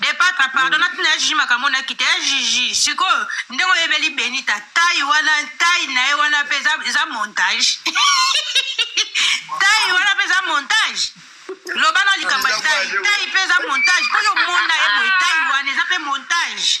De patra pardon na tina ya jiji makambo na kita ya jiji sikoyo ndenge oyebeli benita tai wana tai na ye wana mpe eza montage tai wana mpe eza montage loba na likambo ya tai tai mpe eza montage mpo yo omona ye boye tai wana eza mpe montage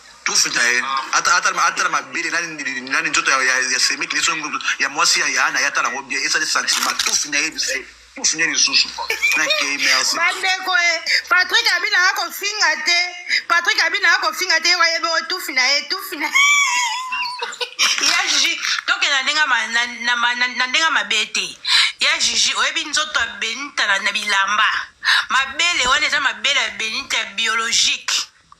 tufi na ye atala mabele nani nzoto ya semeki liso ya mwasi ya yana ye atala yango bien esali sentiment tufi na ye bise tufi na ye lisusu nakei merci bandeko e patrik abina ya kofinga te patrik abina ya kofinga te ye wayebi oyo tufi na ye tufi na ya jiji tokenda na ndenge mabe te ya jiji oyebi nzoto ya benita na bilamba mabele wana eza mabele ya benita biologique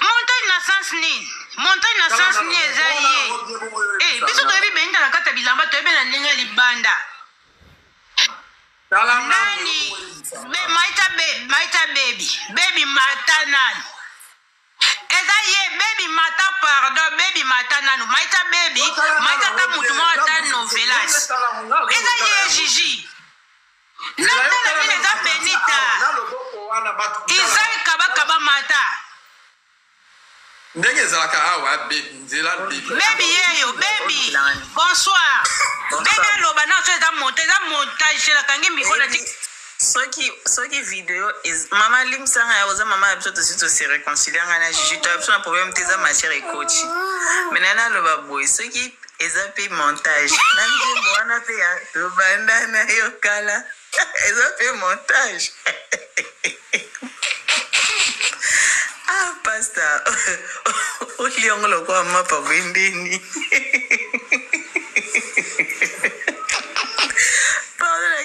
montagne na sens nini montagne na sens nini eza ye eh, biso toyebi beninda na kati ya bilamba toyebi na ndenge ya libanda nani be maita be maita bebi bebi mata nani eza ye bebi mata pardon bebi mata nanu maita bebi maita ta mutu moko ata novelas eza ye jiji natalaki naza benita izai kabakaba mata ndenge ezalaka awa nzela bebi yeyo bebi bonsoir bebi aloba na so eza monta eza montage elakangi mikro na tik soki soki video mama limsanga ya oza mama ya biso tosi tose réconcilia ngai na jiji to ya biso na problème te eza matière ekoti me nani aloba boye soki eza mpe montage na nzembo wana mpe ya tobanda na yo kala eza mpe montage ah pasta oliongo lokola mapa bwendeni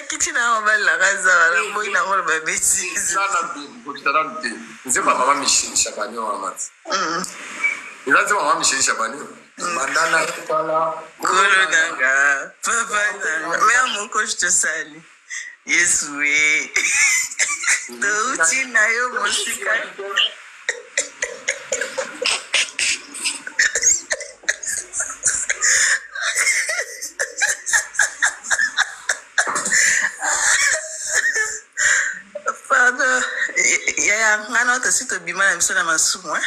kiti na yango balelaka zala na boyi na yango loba betisenzepa mama michel chabani wana eza nzemba mama michel chabani Banda na kala. Kolo na nga, papa na nga. Mère moko je te salue. Yesu eh. Touti na yo mosika. Pardon, yaya nga na oyo tosi tobima na biso na masumu hein.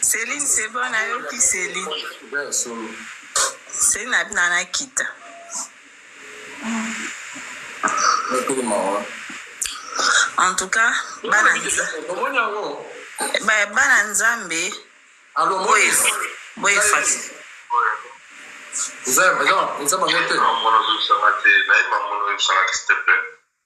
Celine c'est bon nayoki Celine. Celine abi na nakita. En tout cas bana ba- bana Nzambe boye boye fasi. Eza eza eza bango te.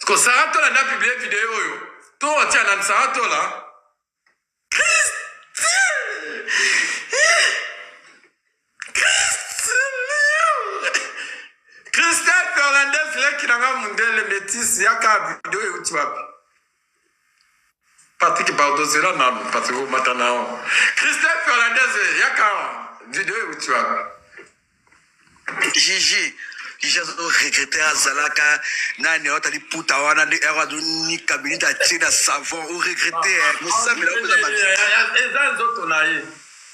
Sikoyo Sarah Tola nde a publie video oyo to atia nani Sarah Tola? Christelle Fernandez leki na nga mundele metisi yaka video euti wapi? Patrick pardon zela nanu Patrick omata na yo Christelle Fernandez yaka video euti wapi Gigi Gigi azo regrette azalaka nani ayo tali puta wana nde ero azo nika minute atie na savon o regrette eh mosambela oza ba eza nzoto na ye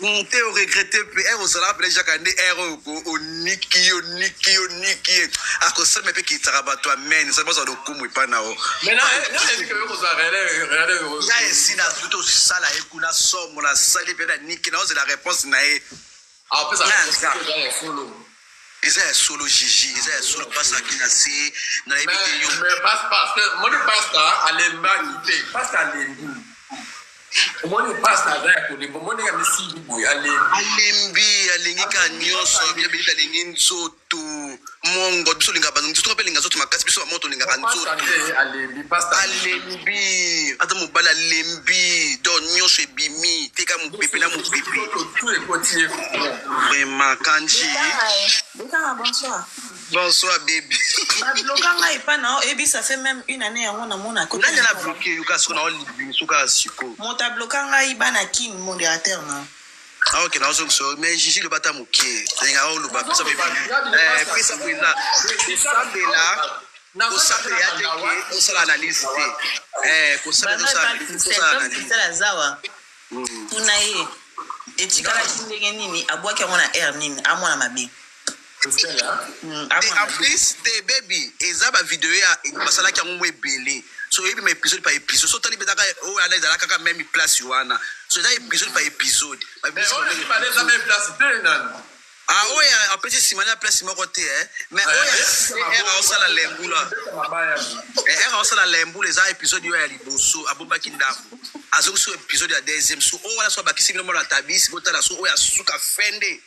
Hum te o regrette pe heure ozala pele jaka nde heure oyo ko oniki yo niki yo niki ye akosema pe kitaka bato amen soki bazwa lokumu epa na o ya esi na zuti osala ye kuna somo na sali pe na niki na ozela reponse na ye Eza ya solo jiji eza ya solo pasta ake na se nayebi te yo moni pasta alembaki te pasta alembi omoni pasta aza ya kolemba omoni ya misimbi boye alembi alembi alingi ka nyonso yabelita alingi nzoto mongo biso olingaka banzoto bapelinga nzoto makasi biso bamoto olingaka nzoto alembi aza mobali alembi do nyonso ebimi teka mopepe na mopepe vraiment kanji Bokanga, bonsoir. bonsoir bebe Babloka ngai epa na yo, ebi ça fait même une année yango namona ko. nani na bloke yo kasi na olibimi soka ya siko Moto abloka ngai bana kin modérateur na. Ah, ok, nazo so mais Gigi le bata muke. Linga o luba pesa pe eh pesa pe na. Sambe la. Ko sambe ya te ke o sala analyse te. Eh ko sambe sa ko sala analyse. Sala zawa. Tuna ye. Etikala ndenge nini abwaki yango na air nini amwana mabe. Et en plus te baby eza ba video ya basalaki yango mwa ebele so oyebi ma episode par episode so otali mpenza kaka oyo wana ezalaka kaka meme place wana so eza episode par episode babimisi yango meme episode. Ah, oyo ya- apesi nsima na place moko te eh. mais oyo ya CR aosala lembula Eh, ere aosala lembula eza episode oyo ya liboso abombaki ndako azongi so episode ya deuxième so oyo wana so abakisi bino mona tabisi botala so oyo ya suka fende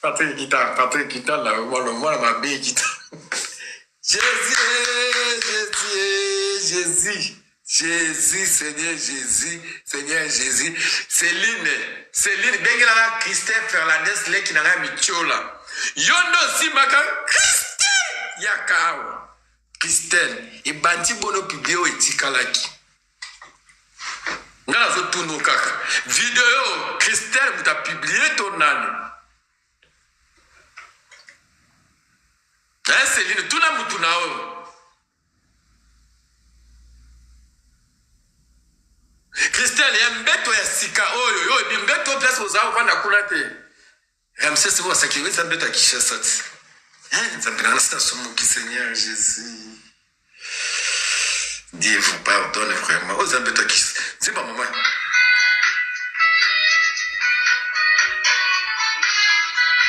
Patrick Kita, Patrick Kita là, mwana mwana mabe Kita. Jésus, Jésus, Jésus. Jésus, Seigneur Jésus, Seigneur Jésus. Céline, Céline, bengela na Christelle Fernandez leki na ngai mitiola. Yo nde osimbaka Christelle yaka awa. Christelle, ebandi bono publie oyo etikalaki. nga nazo tuno kaka video Christelle muta publie to nani eh Celine tuna mutu na oyo Christelle ya mbeto ya sika oyo yo ebi mbeto place ozaa ofanda kuna te Ramsès oyo asakeli eza mbeto ya Kinshasa ti. Eh, Nzambe na nasi nasumuki Seigneur Jésus. Dieu vous pardonne vraiment. Oyo eza mbeto ya Kinshasa. Nzimba mama.